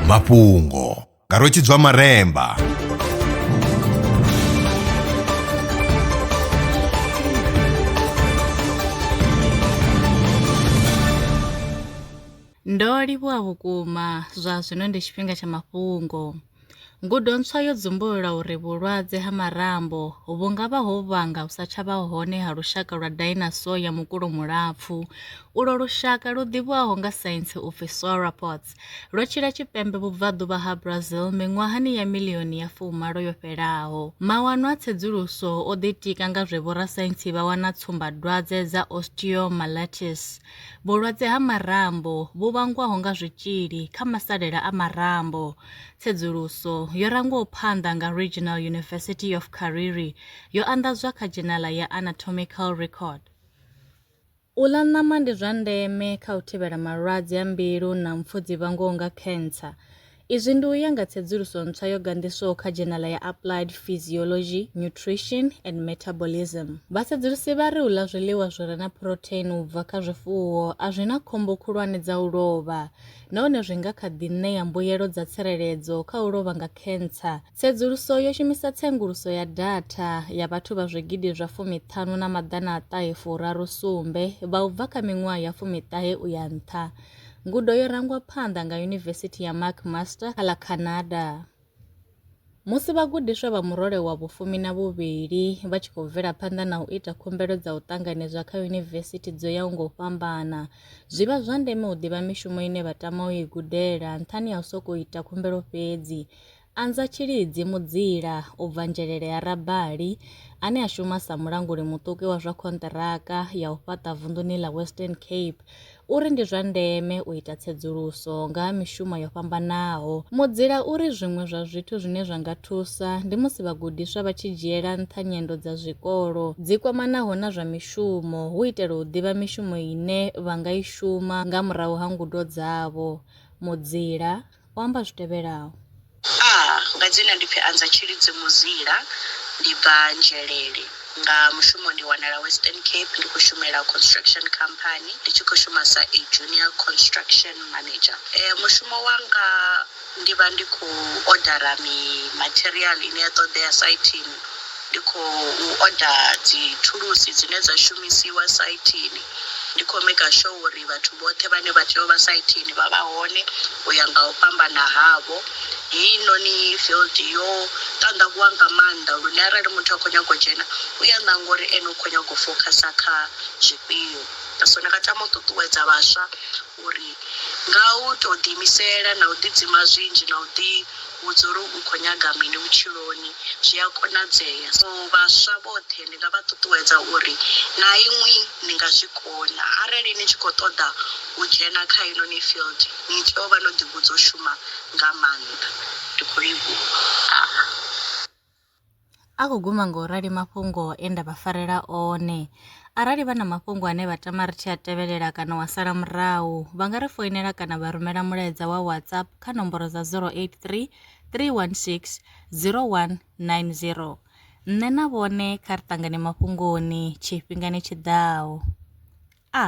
mafhungo nga rwetshidzwa maremba ndo livhuwa vhukuma zwa zwino ndi tshifhinga tsha mafhungo Ngudo ntswa yo dzumbulula uri vhulwadze ha marambo vhu nga vha ho vhanga u sa tsha vha hone ha lushaka lwa dinosaur ya mukulo mulapfu. Ulwo lushaka, lu ḓivhiwaho nga saintsi u pfi sauropods, lwo tshila tshipembe vhubvaḓuvha ha Brazil miṅwahani ya milioni ya fumalo yo fhelaho. Mawanwa a tsedzuluso o ḓitika nga zwe vhorasaintsi vha wana tsumbadwadze dza osteomyelitis, Vhulwadze ha marambo vhu vhangwaho nga zwitzhili kha masalela a marambo. Tsedzuluso yo rangwaho phanḓa nga Regional University of Kariri yo anḓadzwa kha dzhenala ya Anatomical Record. U ḽa ṋama ndi zwa ndeme kha u thivhela malwadze a mbilu na mpfu dzi vhangwaho nga khentsa. Izwi ndi u ya nga tsedzuluso ntswa yo ganḓiswaho kha dzhenala ya Applied Physiology, Nutrition, and Metabolism. Vhasedzulusi vha ri u ḽa zwiḽiwa zwi re na phurotheini u bva kha zwifuwo a zwi na khombo khulwane dza u lovha nahone zwi nga kha ḓi ṋea mbuyelo dza tsireledzo kha u lovha nga khentsa. Tsedzuluso yo shumisa tsenguluso ya datha ya vhathu vha zwigidi zwa fumiṱhanu na maḓana a ṱahe furaru sumbe vha u bva kha miṅwaha ya fumiṱahe u ya nṱha, Ngudo yo rangwa phanḓa nga Yunivesithi ya McMaster kha ḽa Canada. Musi vhagudiswa vha murole wa vhufumi na vhuvhili vha tshi khou bvela phanḓa na u ita khumbelo dza u ṱanganedzwa kha yunivesithi dzo yaho nga u fhambana, zwi vha zwa ndeme u ḓivha mishumo ine vha tama u i gudela nṱhani ha u sokou ita khumbelo fhedzi. Anza tshilidzi mudzila u bva nzhelele ya Rabali ane a shuma sa mulanguli muṱuki wa zwa khonṱiraka ya u fhaṱa vunḓuni ḽa Western Cape u ri ndi zwa ndeme u ita tsedzuluso nga ha mishumo yo fhambanaho. Mudzila u ri zwiṅwe zwa zwithu zwine zwa nga thusa ndi musi vhagudiswa vha tshi dzhiela nṱha nyendo dza zwikolo dzi kwamanaho na zwa mishumo hu itela u ḓivha mishumo ine vha nga i shuma nga murahu ha ngudo dzavho. Mudzila. o amba zwi tevhelaho. A nga dzina ndi pfi Anza Tshilidzi Muzila, ndi bva Nzhelele. Nga mushumo ndi wanala Western Cape, ndi khou shumela construction company, ndi tshi khou shuma sa a junior construction manager. Mushumo wanga ndi vha ndi khou odara mi material ine ya ṱoḓea saithini. Ndi khou oda dzithulusi dzine dza shumisiwa saithini. Ndi khou maker sure uri vhathu vhoṱhe vhane vha tea u vha saithini vha vha hone u ya nga u fhambana havho. Heinoni field yo ṱanḓavhuwa nga maanḓa lune arali muthu a khou nyaga u dzhena u ya ṋanga uri ene u khou nyaga u focuser kha zwifhio. So ndi nga tama u ṱuṱuwedza vhaswa. uri, Nga u tou ḓiimisela na u ḓidzima zwinzhi na u ḓivhudza uri u khou nyaga mini vhutshiloni, zwi a konadzea. So, vhaswa vhoṱhe ndi nga vha ṱuṱuwedza uri na inwi ni nga zwi kona. Arali ni tshi khou ṱoḓa u dzhena kha heinoni field, ni tea u vha no ḓivhudza u shuma nga maanḓa. Ndi khou livhuha. A khou guma nga u rali mafhungo e nda vha farela one. Arali vha na mafhungo ane vha tama ri tshi a tevhelela kana wa sala murahu, vha nga ri foinela kana vha rumela mulaedza wa WhatsApp kha nomboro dza 083 316 0190. Nṋe na vhone kha ri ṱangane mafhungoni tshifhingani tshi ḓaho. A.